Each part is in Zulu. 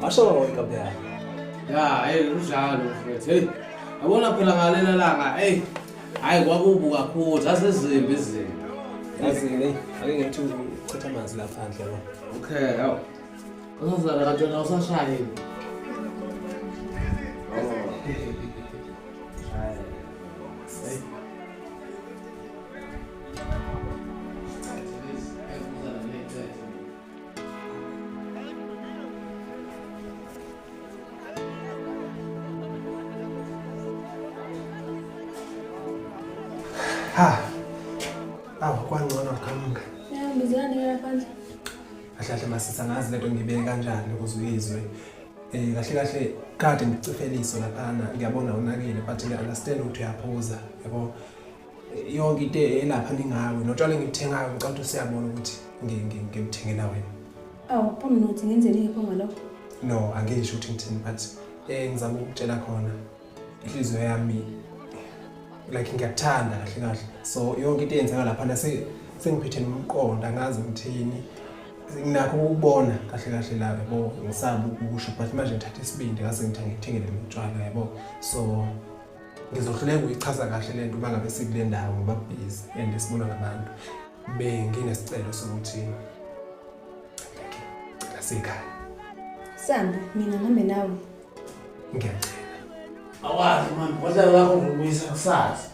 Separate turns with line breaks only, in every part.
Asho wena bya. Ya, hey
unjalo mfethu. Hey. Yabona phela ngalena langa, hey. Hayi kwakubu kakhulu, zasezimbi izinto. Yazi
hey, ake ngithi uchitha amanzi lapha phandle yabo. Okay, yaw.
Uzozala katshona usashayile.
Ha. Awu kwangcono qhamuka. Yeah, ngizilande la
phandle. Kahle kahle
masisa ngazi lento ngibeke kanjani ukuze uyizwe. Eh kahle kahle kade ngicifeliso laphana ngiyabona unakile but ngiyaunderstand ukuthi uyaphuza yabo. yonke into elapha ningawe notshwala engibuthengayo ngicela ukuthi usiyabona ukuthi ngikuthengela wena awu phamnothi
ngenzeni yepho ngalokho no angisho
ukuthi ngithini but um ngizama ukukutshela khona inhliziyo yami like ngiyakuthanda kahle kahle so yonke into eyenzeka laphana sengiphethe nomqondo angazi ngithini nginakho ukubona kahle kahle la yabo ngisaba ukusho but manje ngithatha isibindi ngase ngithangithengele lotshwala yabo so ngizohluleka ukuyichaza kahle le nto uma ngabe sikule ndawo ngoba busy and sibona ngabantu benginesicelo sokuthi ngicela sikhaya sambe
mina ngihambe nawe ngiyacela
awazi mani kodwa lakho ngikubuyisa kusasa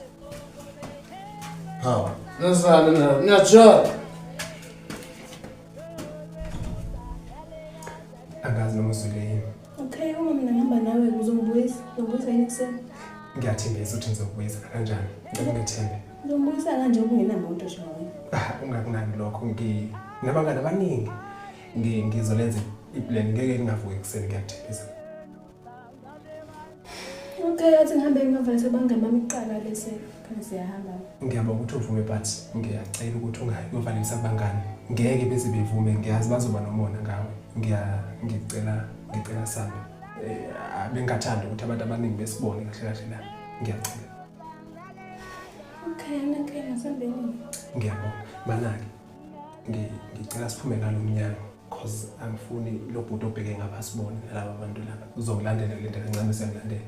hawu nasale niyajala
angazi noma usule yini Okay, uma mina
ngihamba nawe uzongibuyisa, uzongibuyisa yini kuseni? Ngiyathembisa ukuthi
ngizokubuyisa kanjani. Ngicela ngethembe. Uzongibuyisa kanje
kungenamoto nje wena. Ah, ungakunaki lokho
ngi nabangani abaningi. Ngi ngizolenza iplan ngeke ngingavuki ekuseni ngiyathembisa.
Okay, athi ngihambe ngivale sebanga mami kuqala bese khona siyahamba. Ngiyaba ukuthi uvume
but ngiyacela ukuthi ungayi ngivale sabangani. Ngeke bese bevume ngiyazi bazoba nomona ngawe. Ngiya ngicela ngicela sana. Eh bengathanda ukuthi abantu abaningi besibone kahle kahle la. Ngiyacela.
Okay, okay, ngisambeni. Ngiyabonga.
Manaki. Ngicela siphume nalo mnyango. cause angifuni lo bhuti obheke ngapha asibone nalaba bantu laba uzongilandela le nto kancane usengilandela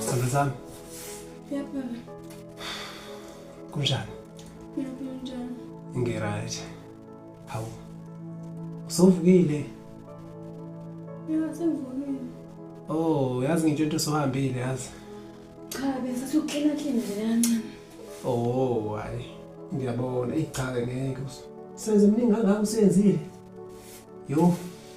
Sana zam. Yapma
be.
Kunjan. Ne yapıyorsun
canım? Ngirait.
Hawu. Usuvukile.
Ya sen vurmayın.
Oh, yazi ngitsho into sohambile yazi. Cha,
bese soklina klina
nje kancane. Oh, hayi. Ngiyabona, ichaze ngeke. Senze mningi kangaka usenzile. Yo.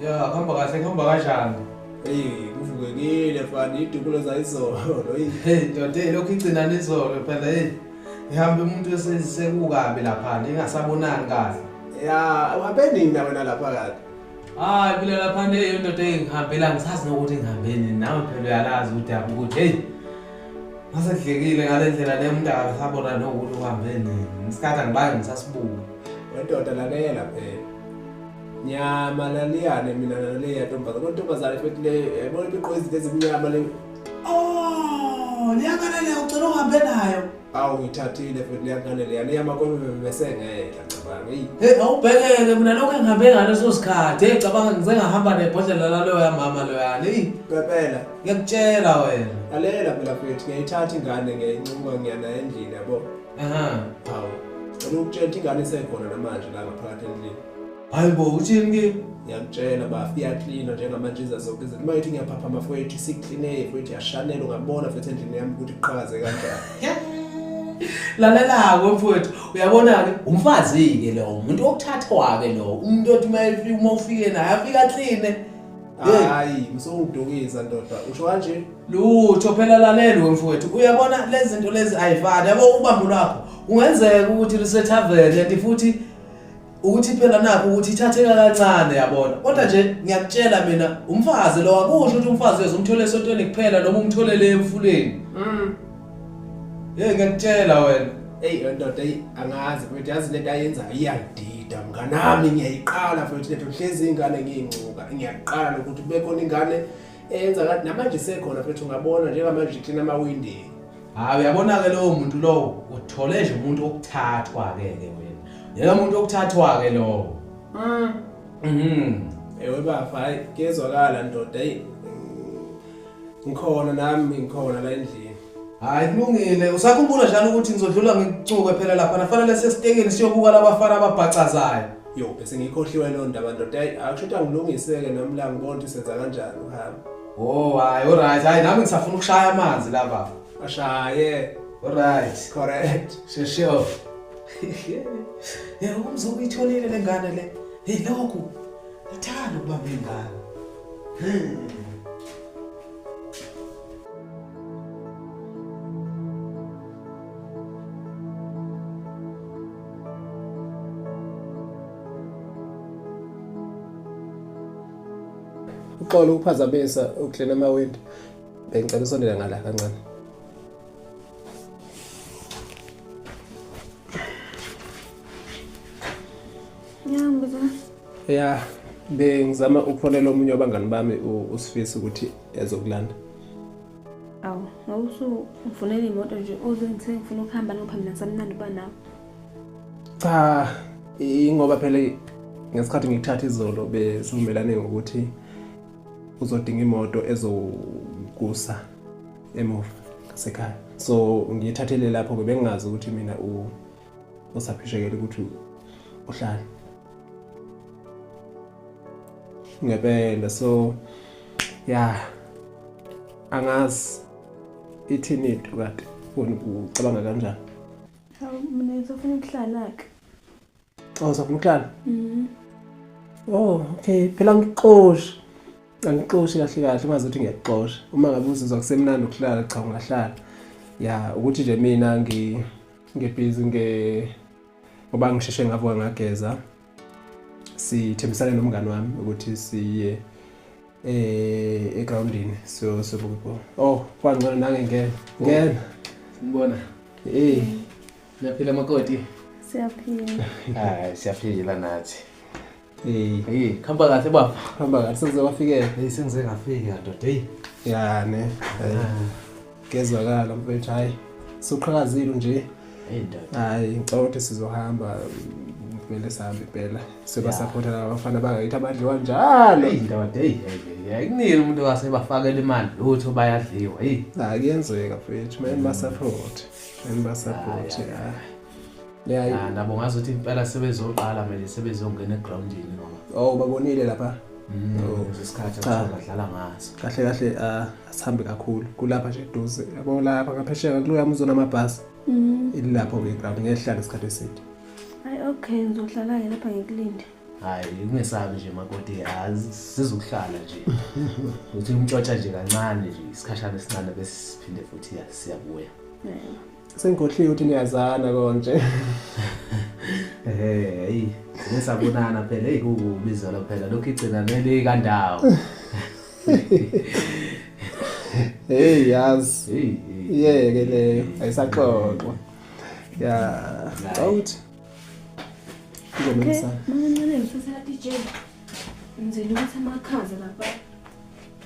ya kuhamba kahle
kuhamba kanjani eyi
kuvukekile fani idukulo zayizolo hey doda
lokhu igcina nizolo phela eyi ngihambe umuntu esekukabi laphana ingasabonani kahle ya uhambe
nini na wena lapha kade hayi phela
lapha nto eyo ndoda engihambela ngisazi nokuthi ngihambe nini nawe phela uyalazi udaba ukuthi heyi ngasedlekile ngale ndlela le mntu akasabona nokuthi uhambe nini ngisikhathi angibange ngisasibuka wendoda
lalela phela nyama laliyane mina naleyo yantombazane kodwa intombazane futhi le yabona into igqoke izinto ezimnyama le Oh,
liyangane le ucela uhambe nayo. awu ngithathile
futhi leyangane leyana iyamakomemesengeke ngicabanga eyi Hey, awubhekeke
mina lokho engihambe ngaleso sikhathi. Hey, cabanga ngisengahamba nebhodlela laloyo yamama loyana. Hey, pepela
ngiyakutshela
wena. lalela phela futhi
ngiyayithatha ingane ngiyayincuka ngiya nayo endlini yabo Aha. hawu cela ukutshela ukuthi ingane isekhona namanje la ngaphakathi endlini hayi bo uthini
kimi ngiyakutshela bafo
iyaklina njengamanje iza zonke izinto uma ngithi ngiyaphaphama fowethu isiklineye fowethu yashanela ungabona futhi endlini yami ukuthi kuqhakaze kanjani
lalela-ke mfowethu uyabona-ke umfazi-ke lowo umuntu okuthathwa-ke lowo umuntu othi uma ufike naye afike akline hayi
msowudukisa ndoda usho kanje lutho phela
laleli wemfowethu uyabona lezi zinto lezi ayifani yabo ubambo lwakho kungenzeka ukuthi lisethaveni kanti futhi ukuthi phela nakho ukuthi ithatheka kancane yabona kodwa nje ngiyakutshela mina umfazi lo akusho ukuthi umfazi uyazomthola esontweni kuphela noma umtholele emfuleni mm hey ngiyakutshela wena hey ndoda hey
angazi mfethu yazi lento ayenzayo iyangidida mnganami ngiyayiqala mfethu lento hlezi ingane ngiyingcuka ngiyaqala ukuthi kube khona ingane eyenza kanti namanje isekhona mfethu ungabona njengamanje iklina amawindi Hayi uyabona-ke
lowo muntu lowo uthole nje umuntu wokuthathwa-ke ke wena. Yena umuntu wokuthathwa-ke lowo. Mm. Mhm.
Ewe bafo hayi kezwakala ndoda eyi. Ngikhona nami ngikhona la endlini. Hayi kulungile
usakhumbula njalo ukuthi ngizodlula ngikucuke phela lapha nafanele sesitekeni siyobuka labafana ababhacazayo. Yo bese
ngiyikhohliwe loo ndaba ndoda eyi akusho ukuthi angilungiseke nami la ngibona ukuthi senza kanjani uhambe. Oh hayi
alright hayi nami ngisafuna ukushaya amanzi la baba. Ashaye.
Alright.
Correct.
Shesho.
Yebo umzungu uyitholile lengane le. Hey lokhu. Ngithanda ukuba ngengane. Hmm.
uxolo ukuphazamisa uklina amawindi bengicela usondela ngala kancane
ya
bengizama ukufonela omunye wabangani bami usifisa ukuthi ezokulanda
awu ngawusufunela imoto nje ozongithe ngifuna ukuhamba nophambi nasamnandi uba nawo cha
ingoba phela ngesikhathi ngikuthatha izolo besivumelane ngokuthi uzodinga imoto ezokusa emuva sekhaya so ngiyithathele lapho ke bengingazi ukuthi mina usaphishekele ukuthi uhlala ngempela so ya angazi ithini into kade ucabanga kanjani
Mina
ngisafuna ukuhlala-ke. Oh, uzofuna ukuhlala? Mhm. Oh, okay. Phela ngixoshe. Angixoshe kahle kahle uma zothi ngiyaxosha. Uma ngabe uzizwa kusemnandi ukuhlala cha ungahlala. Ya, ukuthi nje mina ngi ngebhizi nge ngoba ngisheshe ngavuka ngageza. sithembisane nomngane wami ukuthi siye eh egroundini so so bubo oh kwangcono nange ngena oh. ngena ngibona
eh siyaphila makoti siyaphila
hayi
siyaphila nathi eh hey
khamba kahle baba
khamba kahle senze
wafikela hey senze ngafika
ndoda hey ya ne
ah. Ngezwakala mfethu hayi. Suqhakazile nje. Hayi
ngicela ukuthi
sizohamba kumele sihambe impela sebasapota laba bafana bangayithi abadliwa njalo indoda eyi
ayikunile umuntu wasebafakela imali lutho bayadliwa eyi akuyenzeka
fethu mele basaphote mele basaphote
ya nabo ngazi ukuthi impela sebezoqala mele sebezongena egroundini ngoba oh babonile lapha
mm, oh. isikhathi
abadlala ngaso kahle kahle ah,
asihambe kakhulu kulapha nje eduze yabo lapha ngaphesheka kuluyami uzona amabhasi mm. ilapho ke
ground
ngehlala isikhathi
eside
hayi okay ngizohlala
ke lapha
ngikulinde
hayi ungesabi nje makoti yazi sizokuhlala nje uthi umtshotsha nje kancane nje isikhashana esincane bese siphinde futhi siyabuya
Sengikhohliwe ukuthi niyazana konje. Ehhe,
hayi. Ngisabonana phela hey kukubi zolo phela lokhu igcina neli kandawo.
Hey yazi. Hey. Iyeke
leyo
ayisaxoxwa. Ya. Awuthi. Ngomisa. Mancane ngifisa DJ. Ngizela ukuthi amakhaza
lapha.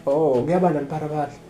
Oh,
kuyabanda mpara badla.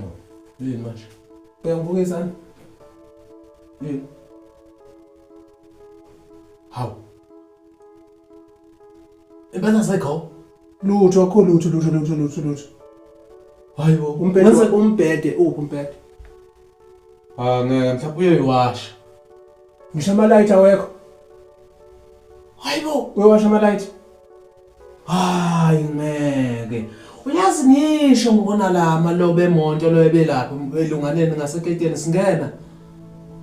Oh, yini manje? Uyangibuka izandla? Yini? Hawu. Impela sekho? Lutho akho
lutho lutho lutho lutho lutho.
Hayi bo, umbhede Mase- wa- umbhede
uphi umbhede?
Ah, ngeke mhlawumbe uyoyiwasha. Ngisho
amalayithi awekho. Hayi bo,
uyowasha amalayithi. hayi ngeke uyazi ngisho ngibona la amalobe emonto lo ebelapha elunganeni ngaseketeni singena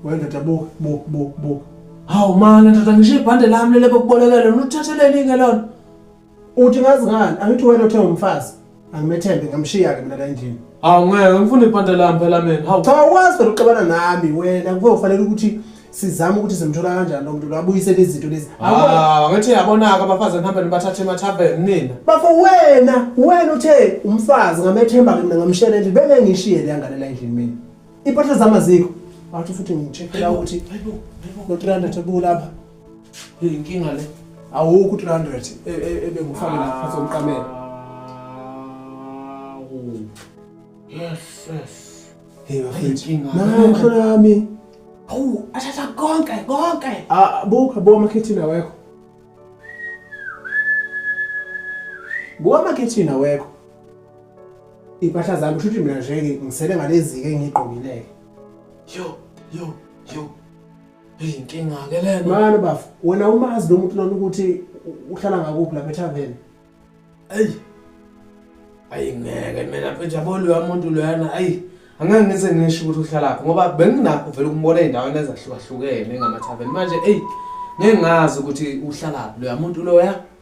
wendoda
buka buka buka buka hawu
mani ndoda ngisho ibhande lami lelebe kubolekele luthatheleni-ke lona uthi
ngazi ngani angithi wena othe umfazi angimethembe ngamshiya-ke mina la endlini hawu ngeke ngifuna
ibhande lami phela mina hawu cha ukwazi phela uxabana
nami wena kuke ufanele ukuthi sizame ukuthi simthola kanjani lo muntu lo abuyisele izinto lezi Ah, ngithi
yabonaka abafazi nihambe nibathathe emathaveni nina bafo wena
wena uthe umfazi ngamethemba-ke mina ngamshiyela endlini bengeke ngishiye le yangane la endlini mina iy'mpahla zami azikho wathi futhi ngichekhela ukuthi no-300 ebukulapha Hey inkinga
le. Awukho 300
e, e, ebengufake la phansi komqamela. Yes
yes.
Hey bafethu. Nayo
mhlola yami.
Awu
athatha konke konke. Ah buka
bo amakhethini awekho. Buka amakhethini awekho. Impahla zami shuthi mina nje ngisele ngalezi ke ngigqokileke. Yo
yo yo. Inkinga-ke lena. Mani bafo, wena
umazi lo muntu lona ukuthi u- uhlala ngakuphi lapha ethaveni? Eyi.
Ayi ngeke mina mfethu yabo loya muntu loyana ayi angeke ngize ngisho ukuthi uhlalaphi ngoba benginakho vele ukumbona ey'ndaweni ezahlukahlukene ngamathaveni manje eyi ngeke ngazi ukuthi uhlalaphi loya muntu loya